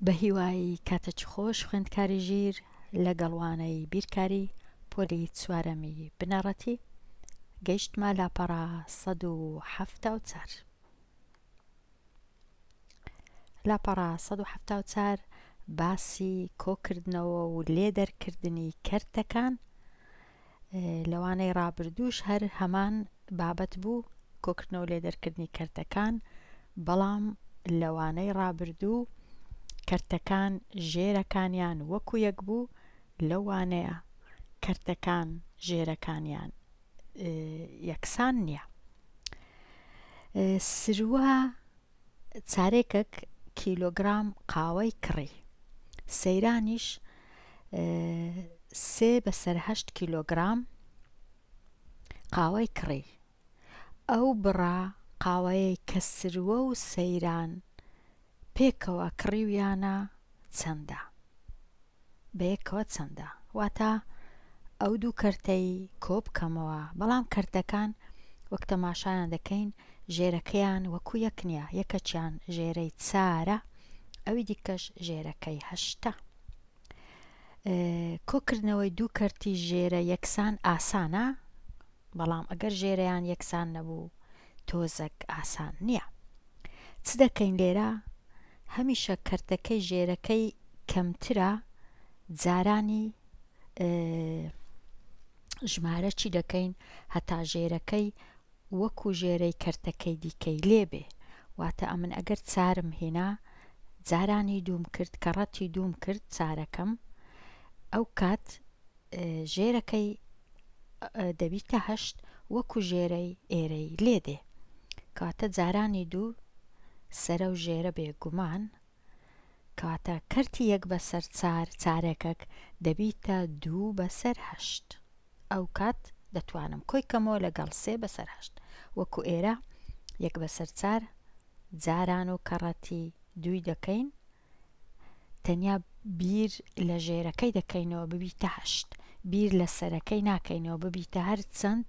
بەهیوای کاتەچ خۆش خوێندکاری ژیر لەگەڵ وانەی بیرکاری پۆلی چوارەمی بنەڕەتی گەیشتمە لاپەڕە سەد و حەفتا و چار لاپەڕە سەد و حەفتا و چار باسی کۆکردنەوە و لێ دەرکردنی کەرتەکان لەوانەی ڕابردووش هەر هەمان بابەت بوو کۆکردنەوە لێ دەرکردنی کەرتەکان بەڵام لەوانەی ڕابردوو کەرتەکان ژێرەکانیان وەکو یەک بوو لەوانەیە کەرتەکان ژێرەکانیان یەکسان نییە سروە چارێکک کیلۆگرام قاوەی کڕی. سەیرانیش سێ بەسەر هەشت کیلۆگرام قاوەی کڕی. ئەو بڕە قاوەیەی کە سروە و سەیران پێکەوە کڕیویانە چەندە؟ بەیەکەوە چەندە؟ واتە ئەو دوو کەرتەی کۆبکەمەوە بەڵام کەرتەکان وەک تەماشایان دەکەین ژێرەکەیان وەکو یەک نیە یەکەکیان ژێرەی چارە ئەوی دیکەش ژێرەکەی هەشتە کۆکردنەوەی دوو کەرتی ژێرە یەکسان ئاسانە بەڵام ئەگەر ژێرەیان یەکسان نەبوو تۆزەک ئاسان نییە چ دەکەین لێرە هەمیشە کەرتەکەی ژێرەکەی کەمترە جارانی ژمارە چی دەکەین هەتا ژێرەکەی وەکو ژێرەی کەرتەکەی دیکەی لێبێ واتە ئەمن ئەگەر چارم هێنا جارانی دووم کرد کە ڕەتی دووم کرد چارەکەم ئەو کات ژێرەکەی دەبیتە هەشت وەکو ژێرەی ئێرەی لێ دێ کاتە جارانی دوو سەرە و ژێرە بێ گومان کاتە کەرتی یەک بەسەر چار چارەکەک دەبیتە دوو بەسەر هەشت ئەو کات دەتوانم کۆی کەمەوە لەگەڵ سێ بەسەر هەشت وەکو ئێرە یەک بەسەر چار جاران و کەڕەتی دووی دەکەین تەنیا بیر لە ژێرەکەی دەکەینەوە ببیتە هەشت بیر لە سەرەکەی ناکەینەوە ببیتە هەر چەند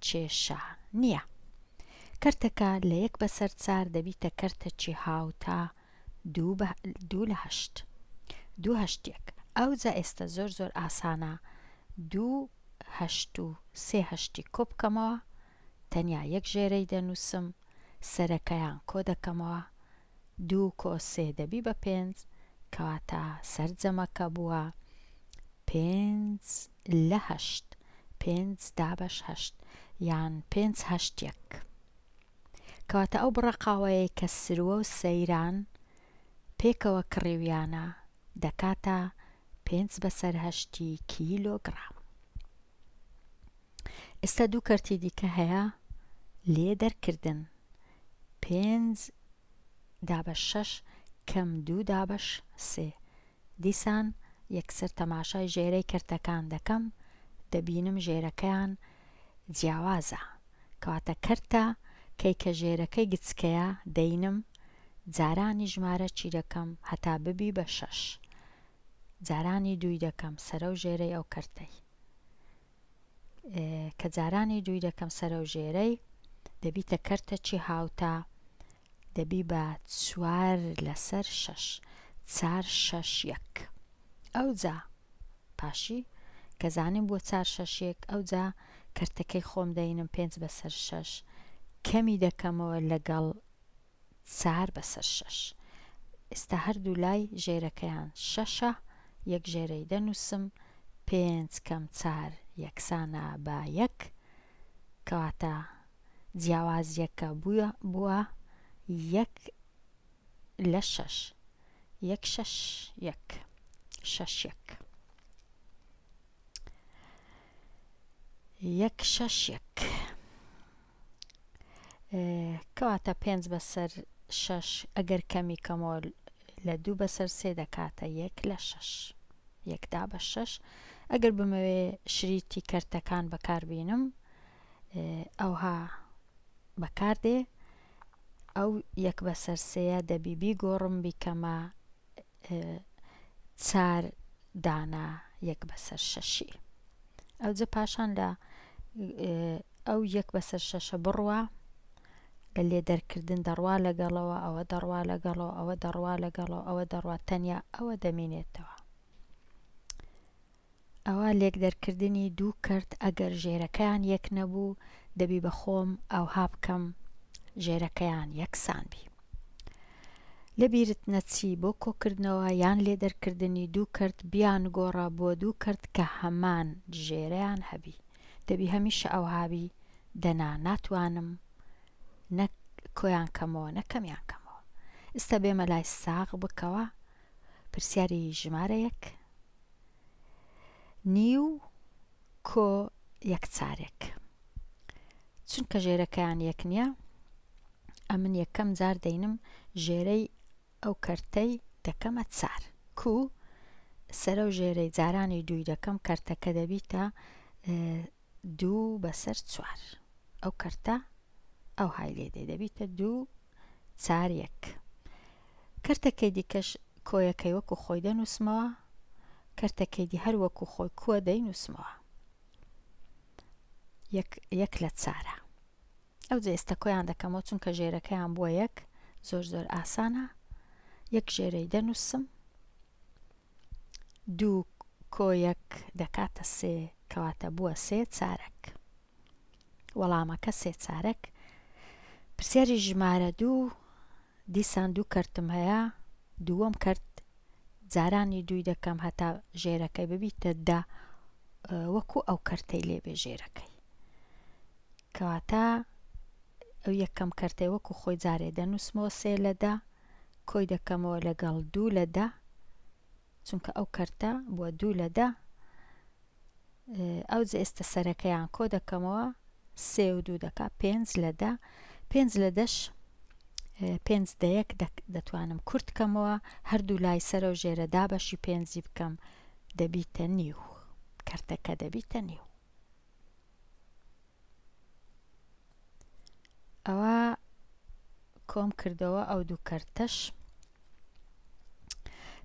کێشە نییە کەرتەکە لە یەک بەسەر چار دەبیتە کەرتەکی هاوتا دوو لە هەشت دوو هەشتێک ئەو جا ئێستا زۆر زۆر ئاسانە دوو هەشت و سێ هەشتی کۆ بکەمەوە تەنیا یەک ژێرەی دەنووسم سەرەکەیان کۆ دەکەمەوە دوو کۆ سێ دەبی بە پێنج کەواتە سەرجەمەکە بووە پێنج لە هەشت پێنج دابەش هەشت یان پێنج هەشت یەک کەواتە ئەو بڕە قاوەیەی کە سروە و سەیران پێکەوە کڕیویانە دەکاتە پێنج بەسەر هەشتی کیلۆگڕام. ئێستا دوو کەرتی دیکە هەیە لێ دەرکردن پێنج دابە شەش کەم دوو دابەش سێ دیسان یەکسەر تەماشای ژێرەی کەرتەکان دەکەم دەبینم ژێرەکەیان جیاوازە کەواتە کەرتە کەی کە ژێرەکەی گچکەیە دەینم جارانی ژمارە چی دەکەم هەتا ببی بە شەش جارانی دووی دەکەم سەرە و ژێرەی ئەو کەرتەی کە جارانی جوی دەکەم سەرەو ژێرەی دەبیتە کەرتەچی هاوتا دەبی بە چوار لەسەر شەش چار شەش یەک ئەوجا پاشی کە زانیم بۆ چار شەش یەک ئەوجا کەرتەکەی خۆم دەینم پێنج بەسەر شەش کەمی دەکەمەوە لەگەڵ چار بەسەر شەش. ئێستا هەردوو لای ژێرەکەیان شەشە، یەک ژێرەی دەنووسم، پێنج کەم چار یەکسانە بە یەک، کەواتە جیاوازییەکە بووە یەک لە شەش. یەک شەش یەک. شەش یەک. یەک شەش یەک. کەواتە پێنج بەسەر شەش ئەگەر کەمی کەمەوە لە دوو بەسەر سێ دەکاتە یەک لە شەش یەکدا بە شەش ئەگەر بمەوێ شریتی کەرتەکان بەکاربینم ئەوها بەکاردێ ئەو یەک بەسەر سەیە دەبی بیگۆڕم بیکەمە چار دانە یەک بەسەر شەشی ئەوجە پاشان لە ئەو یەک بەسەر شەشە بڕوە لە لێ دەرکردن دەڕوا لەگەڵەوە ئەوە دەڕوا لەگەڵەوە ئەوە دەڕوا لەگەڵەوە ئەوە دەڕوا تەنیا ئەوە دەمینێتەوە ئەوا لێکدەرکردنی دوو کەرت ئەگەر ژێرەکەیان یەک نەبوو دەبی بە خۆم ئەوها بکەم ژێرەکەیان یەکسان بی. لە بیرت نەچی بۆ کۆکردنەوە یان لێدەرکردنی دوو کەرت بیانگۆڕە بۆ دوو کەرت کە هەمان ژێرەیان هەبی. دەبی هەمیشە ئەوها بی دەنا ناتوانم نە کۆیان کەمەوە نە کەمیان کەمەوە. ئستا بێمە لای ساغ بکەوە پرسیاری ژمارە یەک. نیو کۆ یەکچارێک چونکە ژێرەکەیان یەک نییە ئەمن یەکەم جار دەینم ژێرەی ئەو کەرتەی دەکەمە چار کو سەرە و ژێرەی جارانی دووی دەکەم کەرتەکە دەبیتە دوو بەسەر چوار ئەو کەرتە ئەوهای لێ دێ دەبیتە دوو چار یەک کەرتەکەی دیکەش کۆیەکەی وەکو خۆی دەنووسمەوە کەرتەکەی دی هەر وەکو خۆی کووە دەینووسمەوە یەک لە چارە ئەو جە ئێستا کۆیان دەکەمەوە چونکە ژێرەکەیان بووە یەک زۆر زۆر ئاسانە یەک ژێرەی دەنووسم دوو کۆیەک دەکاتە سێ کەواتە بووە سێ چارەک وەڵامەکە سێ چارەک پرسیاری ژمارە دوو دیسان دوو کەرتم هەیە دووەم کەرت جارانی دووی دەکەم هەتا ژێرەکەی ببیتە دە وەکو ئەو کەرتەی لێبێ ژێرەکەی کەواتە ئەو یەکەم کەرتەی وەکو خۆی جارێ دەنووسمەوە سێ لە دە کۆی دەکەمەوە لەگەڵ دوو لە دە چونکە ئەو کەرتە بووە دوو لە دە ئەو جێستە سەرەکەیان کۆ دەکەمەوە سێ و دوو دەکا پێنج لە دە پێنج لە دەش پێنج دەیەک دەتوانم کورت کەمەوە هەردوو لای سەرە و ژێرە دابەشی پێنجی بکەم دەبیتە نیو کەرتەکە دەبیتە نیو ئەوە کۆم کردەوە ئەو دوو کەرتەش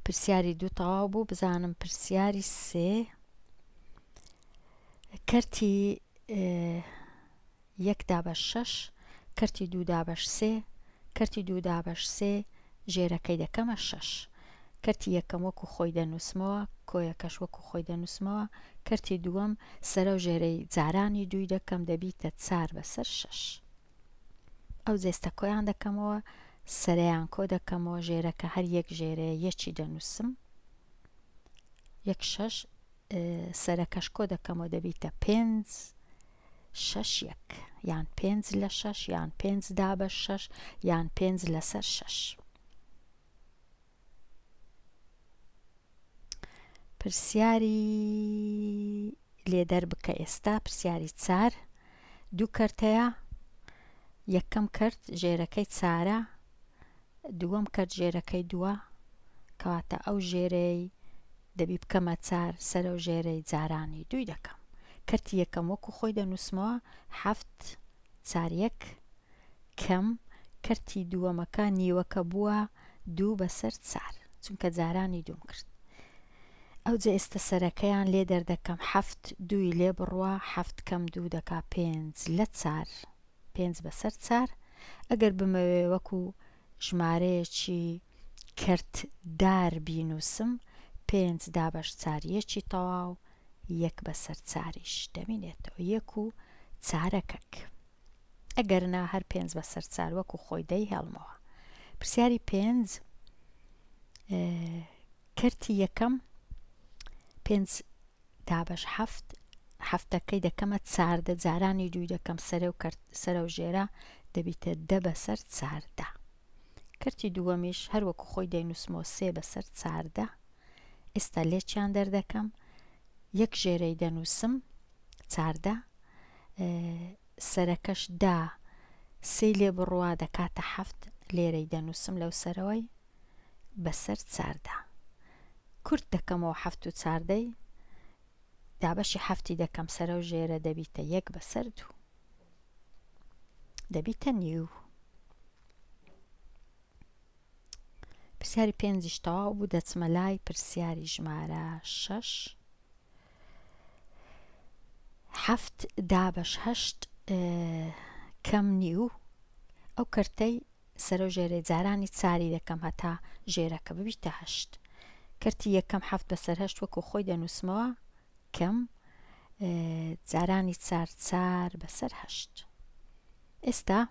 پرسیاری دوو تەواو بوو بزانم پرسیاری سێ کەرتی یەک دابەش شەش کەرتی دوو دابەش سێ کەرتی دوو دابەش سێ ژێرەکەی دەکەمە شەش کەرتی یەکەم وەکو خۆی دەنووسمەوە، کۆیەکەش وەکو خۆی دەنووسمەوە، کەرتی دووەم سەرەو ژێرەی جارانی دووی دەکەم دەبیتە چار بەسەر شەش. ئەو جێستە کۆیان دەکەمەوە، سەرەیان کۆ دەکەمەوە، ژێرەکە هەر یەک ژێرەیە یەکی دەنووسم، یەک شەش، سەرەکەش کۆ دەکەمەوە دەبیتە پێنج، شەش یەک، یان پێنج لە شەش، یان پێنج دابەش شەش، یان پێنج لەسەر شەش. پرسیاری لێ دەربکە ئێستا پرسیاری چار دوو کەرتەیە یەکەم کرد ژێرەکەی چارە دووەم کرد ژێرەکەی دووە کەواتە ئەو ژێرەی دەبی بکەمە چار سەرە و ژێرەی جارانی دوی دەکەم کەرتی یەکەم وەکو خۆی دەنووسمەوە هەفت چار یەک کەم کەرتی دووەمەکە نیوەکە بووە دوو بەسەر چار چونکە جارانی دووم کرد ئەوجە ئێستە سەرەکەیان لێ دەردەکەم حەفت دووی لێ بڕوا حەفت کەم دوو دەکا پێنج لە چار پێنج بەسەر چار ئەگەر بمەوێ وەکو ژمارەیەکی کەرت دار بینووسم پێنج دابەش چار یەکی تەواو یەک بەسەر چاریش دەمینێتەوە یەک و چارەکەک ئەگەرنا هەر پێنج بەسەر چار وەکو خۆی دەی هێڵمەوە پرسیاری پێنج کەرتی یەکەم پێنج دابەش حەفت حەفتەکەی دەکەمە چاردە جارانی دووی دەکەم سەرێ و کەرت سەرە و ژێرە دەبیتە دە بەسەر چاردە کەرتی دووەمیش هەر وەکو خۆی دەینووسمەوە سێ بەسەر چاردە ئێستا لێکیان دەردەکەم یەک ژێرەی دەنووسم چاردە سەرەکەش دا سێ لێ بڕوا دەکاتە حەفت لێرەی دەنووسم لەو سەرەوەی بەسەر چاردا کورت دەکەمەوە حەفت و چاردەی دابەشی حەفتی دەکەم سەرەو ژێرە دەبیتە یەک بەسەر دوو دەبیتە نیو پرسیاری پێنجیش تەواو بوو دەچمە لای پرسیاری ژمارە شەش حەفت دابەش هەشت کەم نیو ئەو کەرتەی سەرو ژێرەی جارانی چاری یەکەم هەتا ژێرەکە ببیتە هەشت کەرتی یەکەم حەفت بەسەر هەشت وەکو خۆی دەنوسمەوە کەم جارانی چار چار بەسەر هەشت ئێستا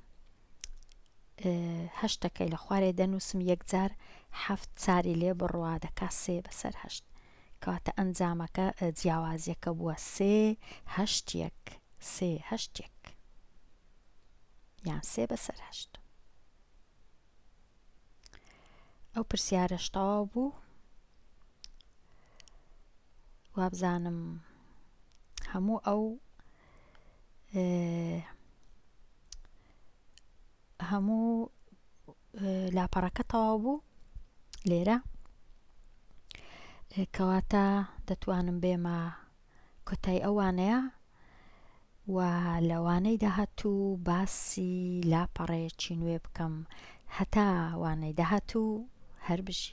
هەشتەکەی لە خوارێ دەنووسم یەکجار حەفت چاری لێ بڕوا دەکا سێ بەسەر هەشت کاتە ئەنجامەکە جیاوازیەکە بووە سێ هەشتێک سێ هەشتێک یان سێ بەسەر هەشت ئەو پرسیارەش تەواو بوو وابزانم هەموو ئەو هەموو لاپەڕەکە تەواو بوو لێرە کەواتە دەتوانم بێمە کۆتای ئەو وانەیە و لە وانەی داهاتوو باسی لاپەڕەیەکی نوێ بکەم هەتا وانەی داهاتوو هەر بژی.